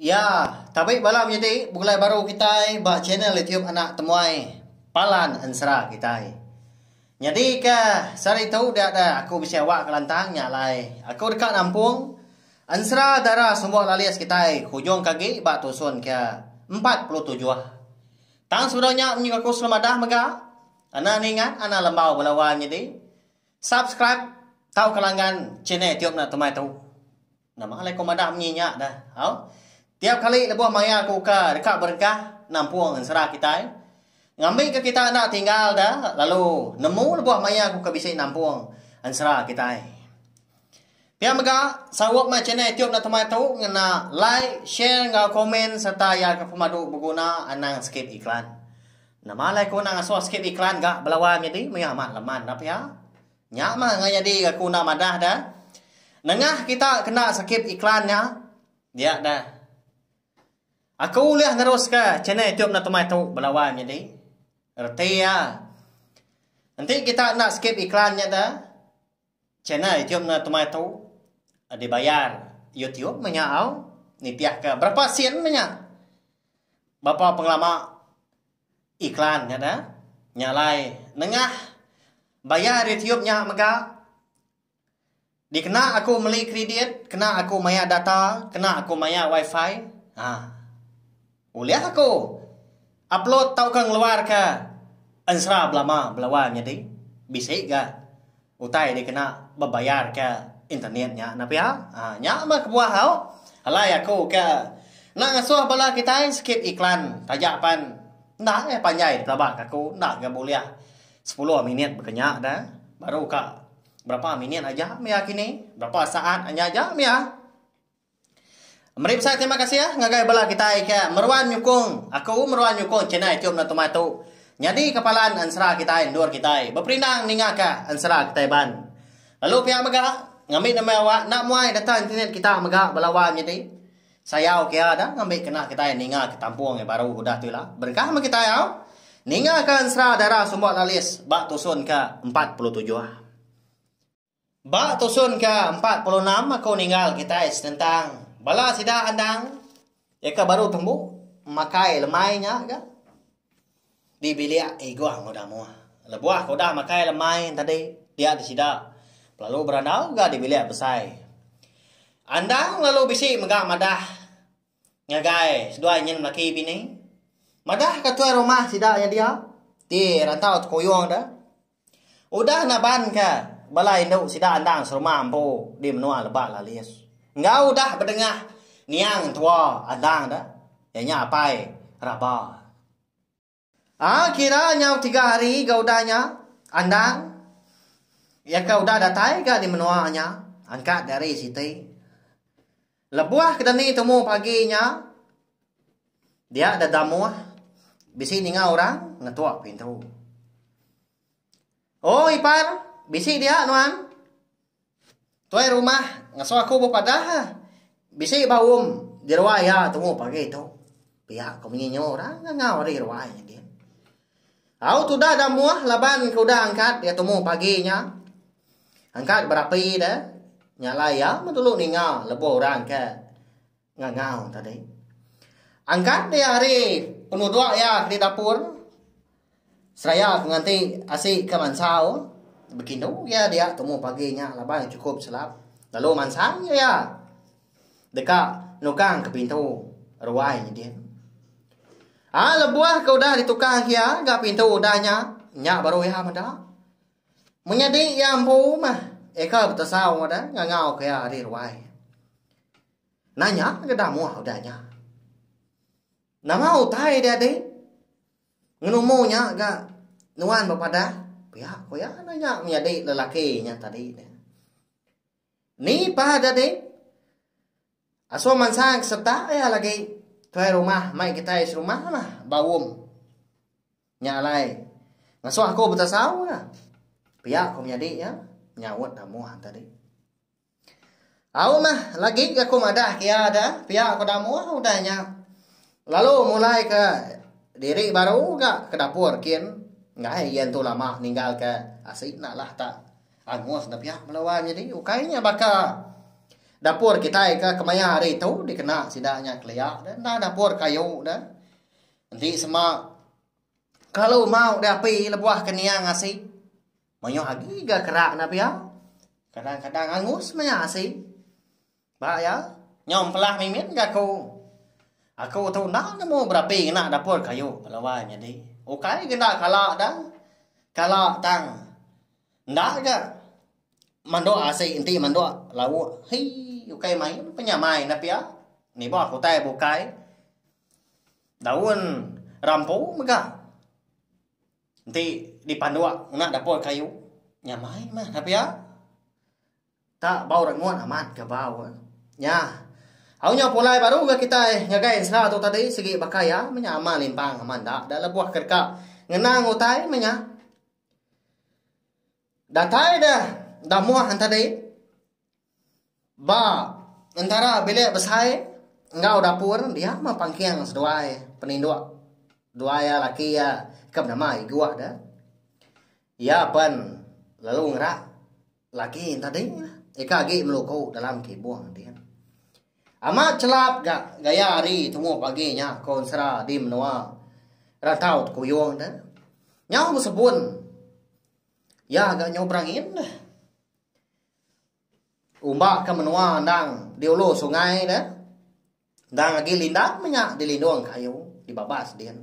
Ya, tabi bala menyadi begulai baru kitai ba channel YouTube anak temuai Palan Ensera kitai. Nyadi ke sehari tu dia da aku bisi awak kelantang nya alai aku deka nampung Ensera Dara Sumbok Lalis kitai ke ujung ke agi ba tusun ke empat puluh tujuh. Tang sebedau nya menyuka aku selalu madah mega ena ningat anak lembau bala wai menyadi subscribe tauka langgan channel YouTube anak temuai tu. Nama alai ko madah menyi nya dah au. Tiap kali lebuh maya ko uka deka berengkah nampung ensera kitai. Ngambi ke kita enda tinggal da lalu nemu lebuh maya ko uka bisi nampung ensera kitai. Pia mega sarup mai channel YouTube Dato Mai tu ngena like, share enggau komen serta ya ke pemadu beguna anang skip iklan. Nama alai ko nang asoh skip iklan ga belawai menyadi mega amat leman da pia. Nya mah enggau nyadi ke aku enda madah da. Nengah kita kena skip iklan nya dia da. Aku ulih neruska channel youtube enda temai tu bala wan nyadi. Reti iya. Enti kita enda skip iklan nya da channel youtube enda temai tu dibayar youtube meh nya au nitihka berapa sen meh nya. Berapa pengelama. Iklan nya da nya alai nengah bayar YouTube nya mega dikena aku meli kridit kena aku mayar data kena aku mayar wifi aaa ulih aku upload tauka ngeluarka ensera belama belawa nyadi bisi ga Utai dikena bebayarka internet nya nah pia. Haa nya meh kebuah au. Alai aku ke enda ngesuh bala kitai skip iklan taja pan enda agih panjai dipelaba ke aku enda ga bulih sepuluh minit bekenya da baru ka berapa minit aja mia kini berapa saat aja mia. Meri besai terima kasih ngagai bala kitai ke meruan nyukung aku meruan nyukung channel iTube no Tuma tu. Nyadi ka palan ensera kitai endur kitai beperindang ninga ka ensera kitai ban. Lalu pia mega ngambi nama awak enda muai data internet kita mega bala wan nyadi sayau ke iya da ngambi kena kitai ninga ka kampung yang baru udah tu ila. Berengkah meh kitai au ninga ka ensera Dara Sumbok Lalis ba tusun ke empat puluh tujuh. Ba tusun ke empat puluh enam aku ninggal kitai senentang bala sida endang deka baru tembu makai lemai nya ga di bilik Iguang udah muah. Lebuh aku udah makai lemai tadi dia di sida belalu berandau ga di bilik besai. Endang lalu bisi mega madah ngagai seduai nyin laki bini. Madahka tuai rumah sida nya dia ti rantau tekuyung deh. Udah naban ka bala indu sida andang serumah empu di menua Lebak Lalis enggau udah bedengah niang tua andang da iya nya Apai Raba. A kira nyau tiga hari ga udah nya andang iya ka udah datai ga di menua nya angkat di hari siti. Lebuh ke dani tumu pagi nya, dia deda muh bisi ninga orang ngetuk pintu. Oh ipar, bisi dia nuan? Tuai rumah ngasuh aku bepadah bisi ba um di ruai iya tumu pagi tu. Pia ku menyinyo orang ngau ari ruai. Au tudah da muah laban ke udah angkat iya tumu pagi nya. Angkat berapi deh. Nyalai iya betulu ninga lebuh orang ke ngangau tadi. Angkat dia hari penuduk iya di dapur. Seraya ke nganti asi ke mansau. Bekindu iya dia tumu pagi nya laban chukup selap. Lalu mansang iya. Deka nukang ke pintu ruai nya din. A lebuh ke udah ditukang iya ga pintu udah nya, nya baru iya meda. Menyadi iya empu meh eka betesau meda ngangau ke iya ari ruai. Nanya ke damuh udah nya. Nama utai dia dih? Ngenumu nya ga nuan bepadah? Pia ku iya nanya menyadi lelaki nya tadi. Ni pah jadi? Aso mansang sereta iya lagi tuai rumah mai kitai serumah lah ba um. Nya alai ngasuh aku betasau lah. Pia ku menyadi iya nyaut Damoh tadi. Au mah lagi aku madah ke iya da, pia ku Damoh udah nya lalu mulai ke diri baru ga ke dapur kin enggai iya entu lama ninggal ke asi enda lah ta. Angus nepiak melawan nyadi ukai nya baka dapur kitai ke kemaya hari tu dikena sida nya kelia deh enda dapur kayu deh enti sema kelalu mau diapi lebuh ke nia ngasi mayuh agi ga kera enda pia kadang-kadang angus maya asi. Ba iya, nyau empelah mimin ga aku. Aku tu enda nemu berapi ngena dapur kayu lawan nyadi. Ukai ga enda kala dang, kala tang enda ga mandok asi enti mandok lauk. Hii ukai main penyamai enda pia nibuh aku utai bukai daun rampu mega enti dipandok ngena dapur kayu. Nyamai meh enda pia. Ta bau rengut amat ga bau. Nya. Au nyau pulai baru ga kitai ngagai ensera tu tadi sigi baka iya menya amal limpang amat enda da lebuh ke deka ngena ngutai menya. Datai deh da moh entadi ba entara bilik besai enggau dapur dia mah pangking seduai peninduk duai iya laki iya ke benama iguk deh. Iya pen lalu ngerak laki entading lah ika agi meluku dalam kibung din. Amat chelap ga gaya ari tumu pagi nya ko ensera di menua Rantau Tekuyung de. Nyau besebun iya ga nyau berangin de. Umba ke menua endang di ulu sungai de. Endang agi lindang meh nya dilindung ka ayu dibabas din.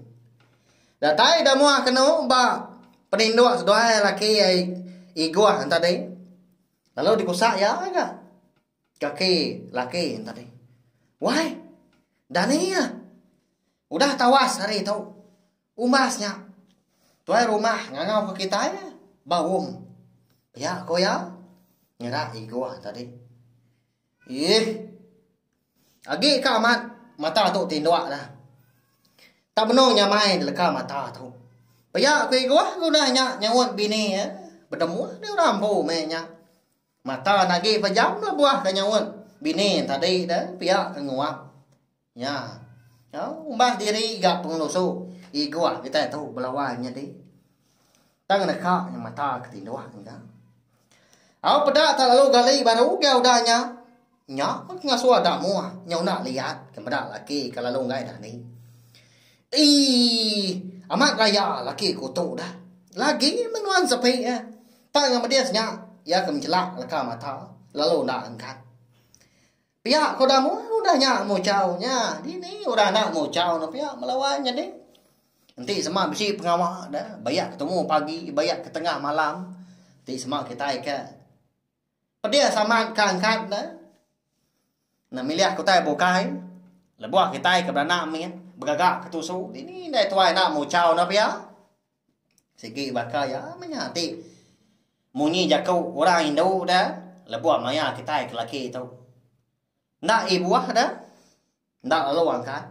Datai ida muah kenu ba peninduk seduai laki Igoh enti tadi lalu dikusak iya ga kaki laki enti tadi. Wai Dani ah udah tawas hari tu umbas nya tuai rumah ngangau ka kitai ba um pia ku iya ngira Igoh tadi. Iih. Agi ka amat mata tu tinduk dah. Tak benung nyamai deleka mata tu. Pia ku Igoh ngundah nya nyaut bini iya. Bedemuh deh orang empu meh nya. Mata enda agi pejam lebuh ka nyaut bini tadi deh pia ke nguap. Nya. Umbah diri ga pengelusu igoh kitai tu belawan nyadi. Tang neka nya mata ke tindoh nya. Au peda tak lalu gali baru ugai udah nya. Nya pun pengasuh damoh nya unda liat ke meda laki ke lalu enggai dani. Eii amat raya laki ku tu dah. Lagi meh nuan sepi eh. Tang ngan medis nya iya ke menjelak leka mata lalu enda enggat. Pia ko Damu udah nya muchau nya dini udah enda muchau ne pia melawan nyadi. Enti sema bisi pengawa da bayak ketemu pagi bayak ke tengah malam ti sema kitai ke pedih saman ka angkat ne ne milih ke utai bukai lebuh kitai ke beranak mit begaga ke tusu dini indai tuai enda muchau ne pia. Sigi baka iya maya ti. Munyi jaku orang indu da lebuh maya kitai ke laki tu. Enda i buah da. Enda lalu angkat.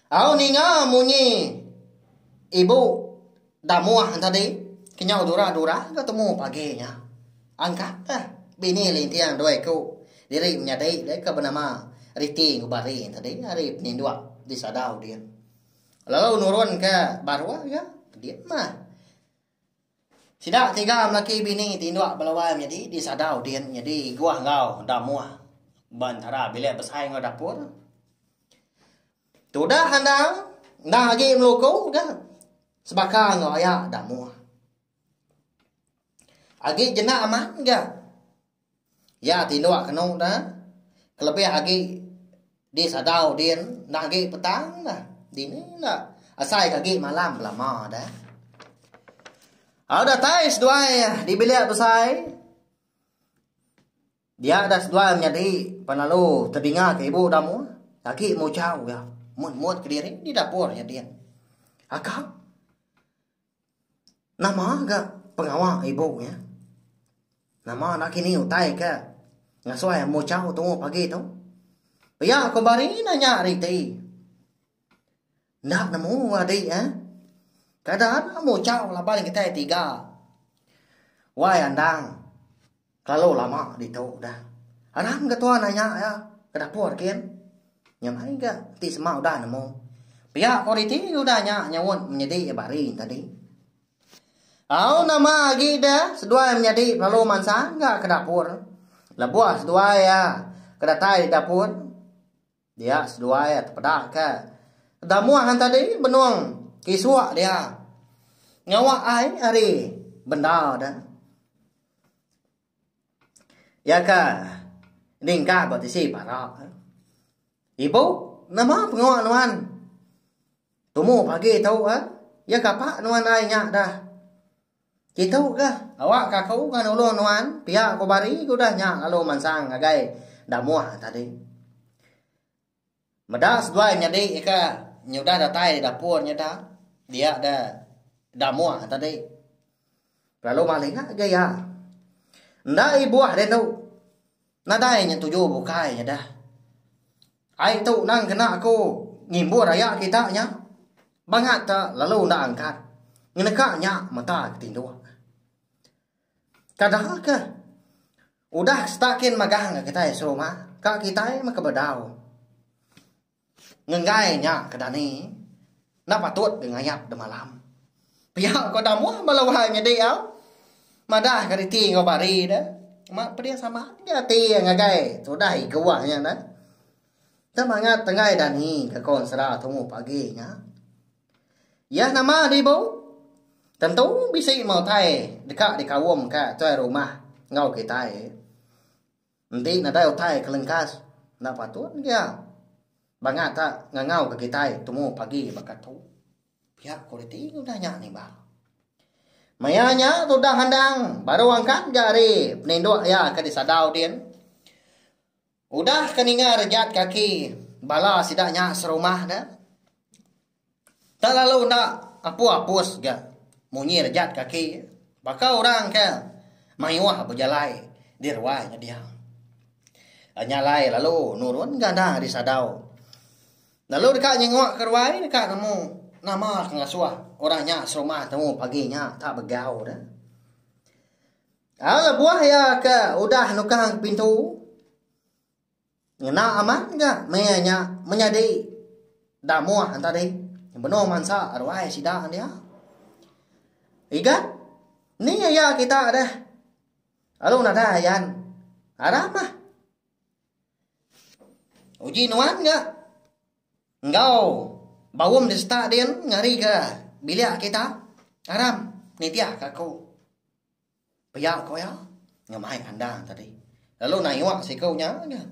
Au ninga munyi ibu da muah tadi kenyau dura-dura ke temu pagi nya. Angkat da bini linting doi ku diri menyadi deka benama Riti enggau Bari tadi ari Peninduk di Sadau din. Lalu nurun ke baruh iya kedit mah. Sida tiga melaki bini ti indu ba luar nyadi disada udin nyadi iguh enggau damuh ba entara bilik besai enggau dapur. Tudah endang enda agi meluku ga sebaka enggau aya damuh. Agi jenak amat ga Iya tinduk kenu da kelebih agi di sadau din enda agi petang da dini enda asai ka agi malam belama da. Au datai seduai di bilik besai dia da seduai menyadi pan lalu tedinga ka ibu da muh agi muchau iya mut mut kediri di dapur nya din. Akak. Nama ga pengawa ibu nya? Nama nakini utai ke ngasoi amu chau tuuh pagi tu? Pia ku Bari enda nya ari ti. Enda nemu adi eh. Kada amu chau laban kitai tiga. Wai andang. Kelalu lama ditu udah. Arang ga tua nanya iya ke dapur kin. Nya mai ga enti sema udah nemu. Pia ko riti udah nya nyaunt menyedi iya bari nya tadi. Au nama agi da seduai menyadi lalu mansang ga ke dapur. Lebuh seduai iya ke datai dapur. Dia seduai iya tepeda ke damuh tadi benung ke isuk dia ngawa ai ari bendar de. Iya ke ningka ba tisi parak. Ibu nama pengawa nuan. Tumu pagi tu iya kapa nuan ai nya dah. Kitu ga, awakka aku ga nulung nuan, pia ku Bari ke udah nya lalu mansang ngagai Damuh tadi. Meda seduai nyadi ka nyudah datai dapur nya da, dia da Damuh tadi. Lalu malinga ga iya. Enda ibuh rindu. Nadai nya tuju bukai nya dah. Ai tu nang kena aku ngimbur aya kita nya. Bangat te lalu enda angkat ngeneka nya mata ke tinduk. Kada ke udah setakin magang kitai serumah ka kitai meh ke bedau. Ngenggai nya ke dani enda patut ke ngayap demalam. Pia ko Damuh bala uhai nyadi au madah ke reti enggau bari de ma pedih sama agi ati iya ngagai tudah igu ah nya neh. Enda mangat enggai dani ke ko ensera tumu pagi nya. Iya nama di ibu tentu bisi meh utai deka dikaum ka tuai rumah enggau kitai. Enti nadai utai ke lengkas enda patut gia bangat tak ngangau ke kitai temu pagi baka tu. Pia kualiti udah nya nimbal. Maya nya tudah endang baru angkat ga ari peninduk iya ke disadau din. Udah ke ninga rejat kaki bala sida nya serumah ne. Tang lalu enda apu apus ga munyi rejat kaki baka orang ke mayuh bejalai di ruai ngedia. Nya alai lalu nurun ga enda ari sadau. Lalu deka nyengua ke ruai deka nemu nama ke ngasuh orang nya serumah tu pagi nya enda begau ne. Au lebuh iya ke udah nukang pintu. Ngena amat nya meh nya menyadi damuh entadi benung mansa ruai sida dia. Igat ni iya kita deh. Alu nadai ayan. Aram lah. Uji nuan nya enggau baum di seta din ngari ke bilik kita. Aram nitih ka aku. Pia ko iya ngemai kandang tadi lalu nayuh siku nya aja.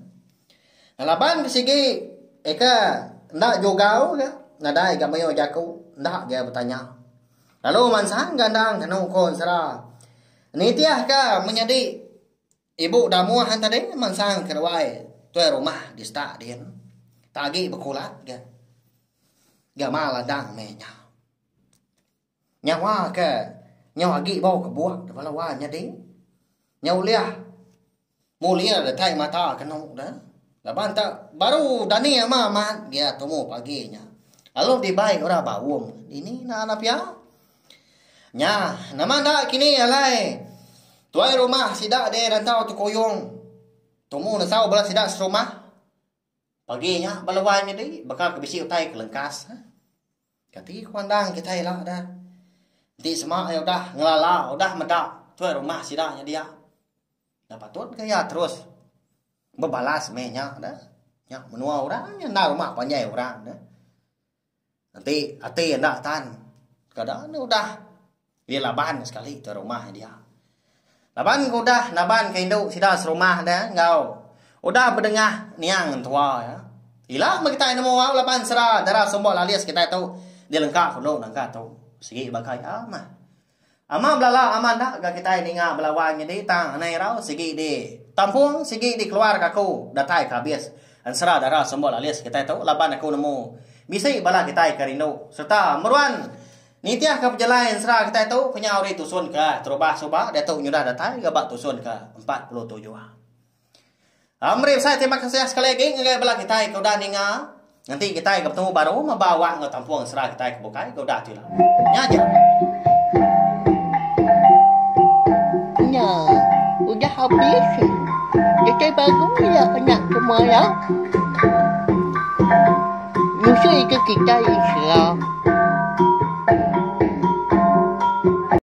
Laban ke sigi eka enda jugau ga nadai ga mayuh jaku enda ga iya betanya. Lalu mansang ga endang anu ko ensera nitih ka menyadi ibu damuh an tadi mansang ka ruai tuai rumah di stak din tagi bekulat ga. Ga ma ladang meh nya. Nyawa ke nyau agi bau kebuk da bala wai nyadi nyau ulih mulir datai mata kenu da laban tu baru dani ama amat gia tumu pagi nya lalu dibai ora baum dini naan da pia nya nama enda kini alai tuai rumah sida deh rantau tekuyung tumu nesau bala sida serumah. Pagi nya bala wai nyadi baka ke bisi utai ke lengkas. Kati ku andang kitai ila da. Enti sema iya udah ngelala udah meda tuai rumah sida nya dia. Enda patut ke iya terus bebalas meh nya da. Nya menua orang nya enda rumah panjai orang da. Enti ati enda tan kada anu udah iya laban sekali ke rumah iya. Laban ke udah naban ke indu sida serumah dah enggau udah bedengah niang mentua iya. Ila meh kitai nemu au laban sera dara sumbo lalis kitai tu dilengka ke ulu naga tu. Sigi baka iya meh. Amat belala amat enda ga kitai ninga bela wang nyadi tang anai irau sigi di tampung sigi di keluar ka aku datai ka abis ensera dara sembo lalis kitai tu laban aku nemu bisi bala kitai ke rindu serta meruan nitih ka pejalai ensera kitai tu kenyau ri tusun ka terubah suba diatu nyudah datai ga ba tusun ka empat puluh tujuh. Meri besai terima kasih sekali agi ngagai bala kitai ke udah ninga. Nanti kitai ke betemu baru meba awak enggau tampung sera kitai ke bukai ke udah tila. Nya aja. Nya. Udah habis. Kitai baru iya anak ke maya. Nusi ke kitai sera.